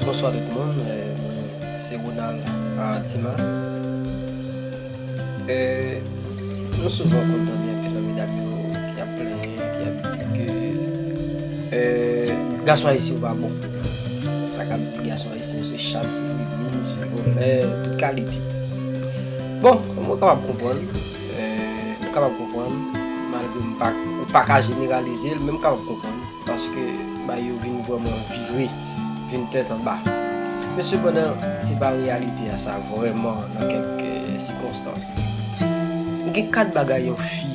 Bonswa tout moun, mwen se Ronald Artiman Nou souvan konn tande anpil nan medam yo ki ap plenyen, ki ap di ke gason ayisyen yo pa bon Sa k ap di gason ayisyen yo se chat, se grenn, se vòlè, tout kalite Bon, mwen kapab konprann M kapab konprann, malgre m pa, ou pa ka jeneralize l, men m kapab konprann, paske bagay yo vin vrèman vire, vin tèt anba. Men sepandan, se pa reyalite a sa vrèman nan kèk sikonstans. Gen 4 bagay yon fi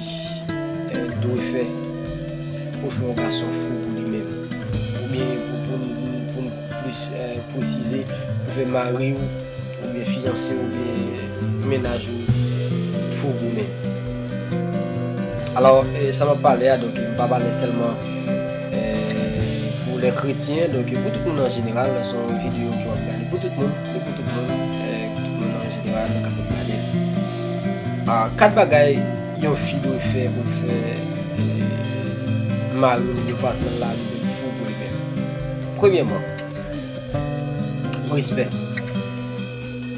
dwe fè pou l fè yon gason fou pou li menm, oubyen pou m plis presize, pou fè mari ou. Oubyen fiyanse ou oubyen mennaj ou t fout goumen. Alors sa map pale a donk m pa pale sèlman pou lè kretyen donk pou tout moun an jeneral se yon video ke map gade pou tout moun se pou tout moun an jeneral kap ap gadel. 4 bagay yon fi dwe fè pou l fè maril oubyen patnèl la li menm fou pou li menm. Premyèman. Respè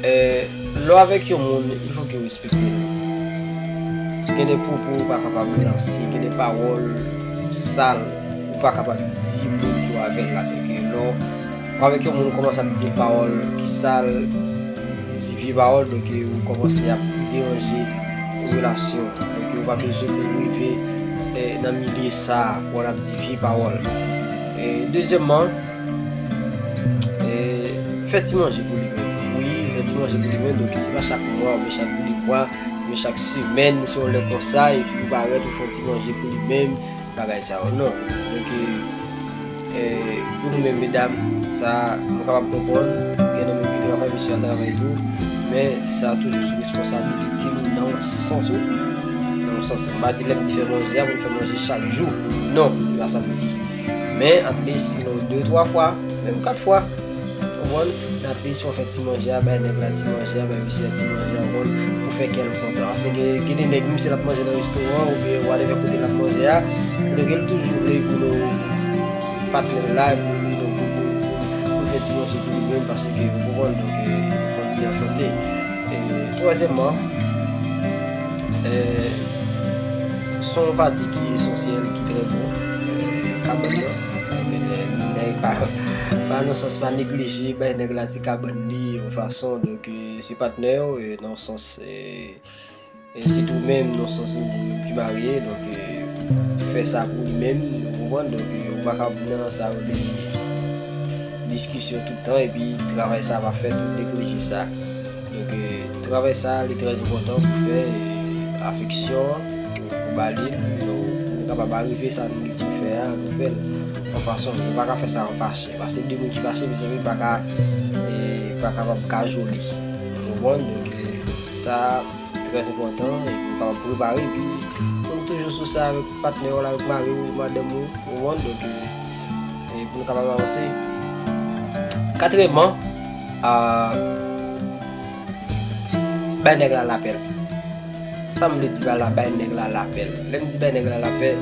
Eeh lè w avèk yon moun il fò ke w respekte l Gen de pwopo ou pa kapab lanse, gen de pawòl sal ou pa kapab di moun ki w avèl la Paske lè w avèk yon moun ou kòmanse ap di l pawòl ki sal, di vye pawòl donk ou kòmanse ap deranje relasyon an Donk ou pa bezwen pou w rive nan milye sa a pou w al ap di vye pawòl E dezyèmman, fè ti manje pou li menm. Wi, fè ti manje pou li menm. Donk, se pa chak mwa oubyen chak de mwa, men chak semèn, se yon lè konsa, epi ou parèt ou fè yon ti manje pou li menm, bagay sa yo. Non. Donk, pou nou menm medam, sa nou kapab konprann, gen nan moun ki travay, mesye a travay tou, men sa toujou sou responsabilite nou nan yon sans. Nan yon sans, m pa di lè m te fè manje a pou m fè manje chak jou. Non, se pa sa m di. Men, atlis you no de twa fwa, menm kat fwa. Ou konprann? Men atlis fò w fè ti manje a, bay nèg la ti manje a, bay mesye a ti manje a, ou konprann, pou w fè kè l kontan. Paske gen de nèg, menm si l ap manje nan restoran oubyen whatever kote l ap manje a, kote ke l toujou vle you no patnè l la pou you no pou l fè ti manje pou li menm paske, ou konprann, donk, pou fanmi an sante. Twazyèmman, son yon pati ki esansyèl, ki trè bon nan kabann nan. Nèg pa nan sans pa neglije bay nèg la ti kabann li yon fason. Donk se patnè w nan yon sans. Se tou menm non sans nou pou moun ki marye donk ou fè sa pou li menm ou konprann donk ou pa ka ap nan sa rele diskisyon tout tan epi travay sa pa fèt ou neglije sa donk travay sa li trè enpòtan pou fè afeksyon an ou ba li l pou nou kapab arive sa nou gen pou fè a nou fè l yon fason nou pa ka fè sa an fache paske de moun ki fache mezanmi pa ka pa kapab kajole ou konprann donk sa. trè enpòtan e pou kapab prepare epi pou nou toujou sou sa avèk patnè w la avèk mari w madanm ou konprann donk e pou nou kapab avanse katrèman a bay nèg la lapè l sa m vle di pa la bay nèg la lapè l lè m di bay nèg la lapè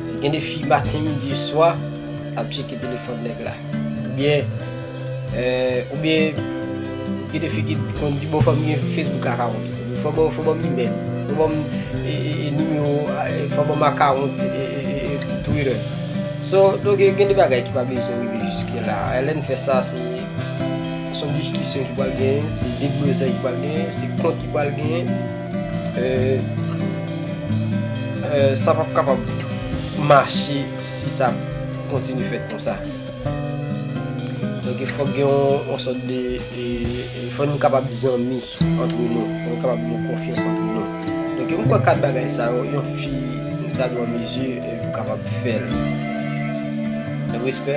se gen de fi maten midi swa l ap tcheke telefòn nèg la oubyen Ou byen gen de fi ki konn di bon fòm gen Facebook akawont ou. Fò banm fò banm imèl ou. Fò banm nimewo fò banm akawont Twitter. So donk gen de bagay ki pa bezwen rive jiske la. Lè n fè sa se son diskisyon ki pral genyen, se deblozay ki pral genyen, se kont ki pral genyen. Sa pap kapab mache si sa kontinye fèt konsa. Donk fòk gen yon sòt de, fòk nou kapab zanmi antre nou, fòk nou kapab gen konfyans antre nou. Donk mwen kwè 4 bagay sa yo, yon fi ta dwe an mezi pou kapab fè l. Respè,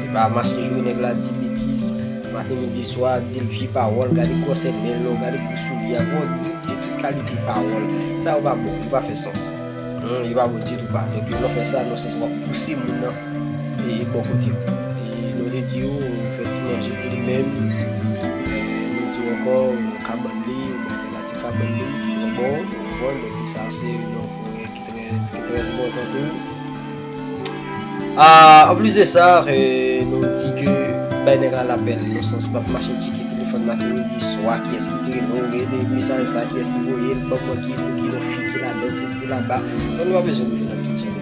e pa mache joure nèg la, di betiz, maten, midi, swa, di l vye pawòl, gade gwòsè men l, gade gwo souli a, bon, di tout kalite pawòl. Sa yo pa bon, yo pa fè sans. Yo pa bon ditou pa. Donk lè w fè sa, nan yon sans ou ap pouse moun nan. bò kote w. Nou te di w ou fè ti manje pou li menm, nou di w ankò ou nan kabann li, ou bay li pati kabann li ki trè bon, ou konprann, donk sa a se yon pwen ki trè enpòtan tou. Anplis de sa, nou di ke bay nèg la lapèl nan sans pa pou mache tcheke telefòn Martelly di swa kiyès ki te rele w, rele mesaj sa a kiyès ki voye l, ban mwen ki pou ki non fi ki ladan l, sesi la ba, donk nou pa bezwen rele nan pi djanm.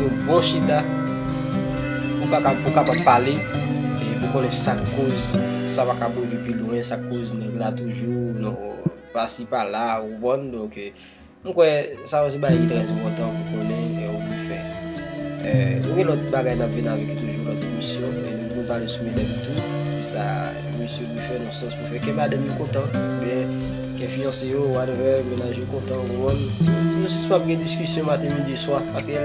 Pou bon chita, ou pa kab, ou kapab pale, e pou konnen sa k koz, sa pa kab rive pi lwen, sa k koz nèg la toujou nan pasi pala, ou konprann? Donk, m kwè, sa yo se bagay ki trèz enpòtan pou konnen e ou pou fè. Nou gen lòt bagay n ap vin avèk yo toujou, lòt emisyon, e nou vin pale sou medam tou, ki sa misye dwe fè nan sans pou fè kè madanm yo kontan, oubyen. Ke fiyanse yo, whatever, menaj yo kontan, waww. Nou jis pap gen diskisyon maten, midi, swa, paske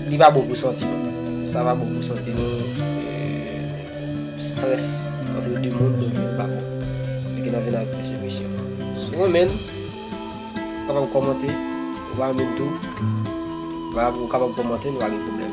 li pa bon pou sante nou. Sa pa bon pou sante nou. Stress antre de moun li pa bon. Fè ke nan vin ak plis emisyon. Si w renmen, ou kapab komante, ou pa renmen tou, ou kapab komante, nou pa gen pwoblèm.